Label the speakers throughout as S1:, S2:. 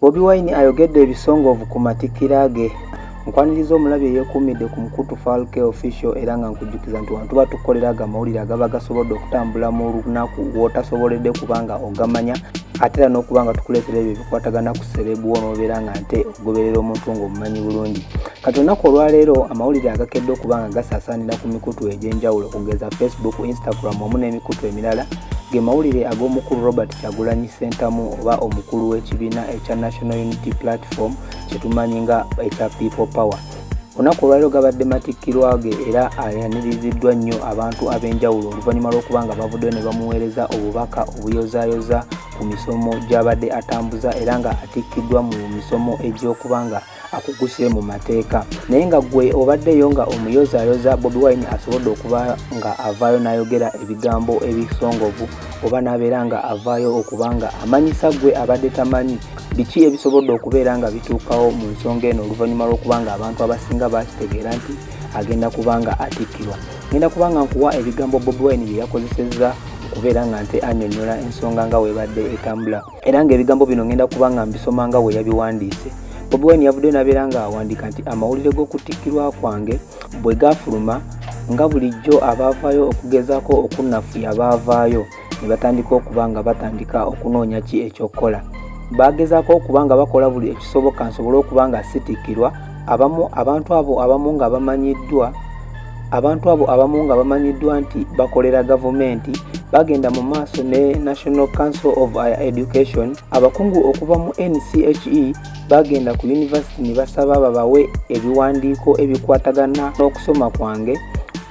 S1: Bobi Wine ayogedde ebisongovu ku matikkira ge. Nkwaniriza omulabi eyeekuumidde ku mukutu Falke Official era nga nkujjukiza nti wano tuba tukolera ago amawulire agaba gasobodde okutambula mu lunaku w'otasoboledde kuba nga ogamanya ate era n'okuba nga tukuleetera ebyo ebikwatagana ku serebu wo n'obeera nga nte ogoberera omuntu ng'omumanyi bulungi kati olunaku olwaleero amawulire agakedde okuba nga gasaasaanira ku mikutu egy'enjawulo okugeza facebook instagram omu n'emikutu emirala ge mawulire ag'omukulu robert Kyagulanyi Ssentamu oba omukulu w'ekibiina ekya National Unity Platform kyetumanyi nga ekya People Power olunaku olwaliro gabadde matikkirwa ge era ayaniriziddwa nnyo abantu ab'enjawulo oluvannyuma lw'okuba nga bavuddeyo ne bamuweereza obubaka obuyozayoza ku misomo gy'abadde atambuza era nga atikkiddwa mu misomo egy'okuba nga akuguse mu mateeka naye nga gwe obaddeyo nga omuyozayoza bobi wine asobodde okuba nga avaayo n'ayogera ebigambo ebisongovu oba n'abeera nga avaayo okuba nga amanyisa gwe abadde tamanyi biki ebisobodde okubeera nga bituukawo mu nsonga eno oluvannyuma lw'okuba nga abantu abasinga bakitegeera nti agenda kuba nga atikkirwa ngenda kuba nga nkuwa ebigambo bobi wine bye yakozesezza okubeera nga nte anyonyola ensonga nga webadde etambula era ng'ebigambo bino ngenda kuba nga mbisoma nga bwe yabiwandiise bobi wine yavuddeyo nabeera nga awandiika nti amawulire g'okutikkirwa kwange bwe gafuluma nga bulijjo abaavaayo okugezaako okunnafuya baavaayo ne batandika okuba nga batandika okunoonya ki ekyokukola baagezaako okuba nga bakola buli ekisoboka nsobole okuba nga sitikkirwa abamu abantu abo abamu nga bamanyiddwa abantu abo abamu nga bamanyiddwa nti bakolera gavumenti bagenda mu maaso ne national council of higher education abakungu okuva mu nche bagenda ku yunivasiti ne basaba babawe ebiwandiiko ebikwatagana n'okusoma kwange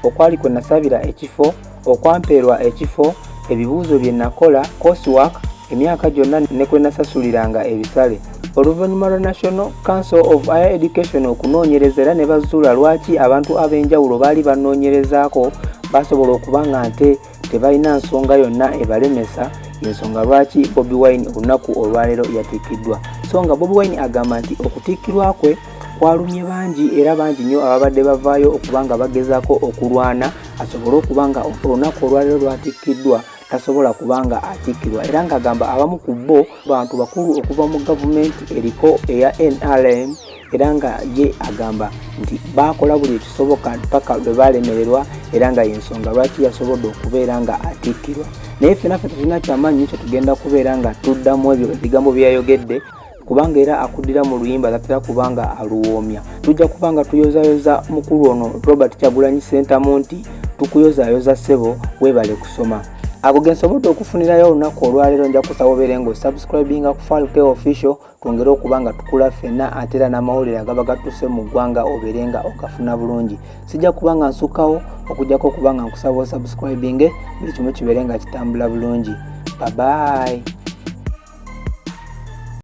S1: okwali kwe nasabira ekifo okwampeerwa ekifo ebibuuzo bye nakola coursework emyaka gyonna ne kwe nasasuliranga ebisale oluvannyuma lwa national council of higher education okunoonyereza era ne bazuula lwaki abantu ab'enjawulo baali banoonyerezaako basobola okuba nga nte tebalina nsonga yonna ebalemesa yensonga lwaki bobi wine olunaku olwaleero yatikkiddwa so nga bobi wine agamba nti okutikkirwa kwe kwalumye bangi era bangi nnyo ababadde bavaayo okuba nga bagezaako okulwana asobole okuba nga olunaku olwaliro lwatikkiddwa tasobola kuba nga atikkirwa era ng'agamba abamu ku bo bantu bakulu okuva mu gavumenti eriko eya nrm era nga ye agamba nti baakola buli ekisoboka mpaka lwe baalemererwa era nga yensonga lwaki yasobodde okubeera nga atikkirwa naye fenaffe tulina kyamaanyi nyo kyetugenda kubeera nga tuddamu ebyo ebigambo byeyayogedde kubanga era akuddira mu luyimba latera kubanga aluwoomya tujja kuba nga tuyozayoza mukulu ono robert kyagulanyi sentamu nti tukuyozayoza ssebo weebale kusoma ago gensobodde okufunirayo olunaku olwaleero nja kusaba obeere nga osubscribinga ku falke official twongere okuba nga tukula ffenna ate era n'amawulire agaba gatuse mu ggwanga obeere nga ogafuna bulungi sijja kuba nga nsukkawo okujjako okuba nga nkusaba osubscribinge buli kimu kibeere nga kitambula bulungi babayi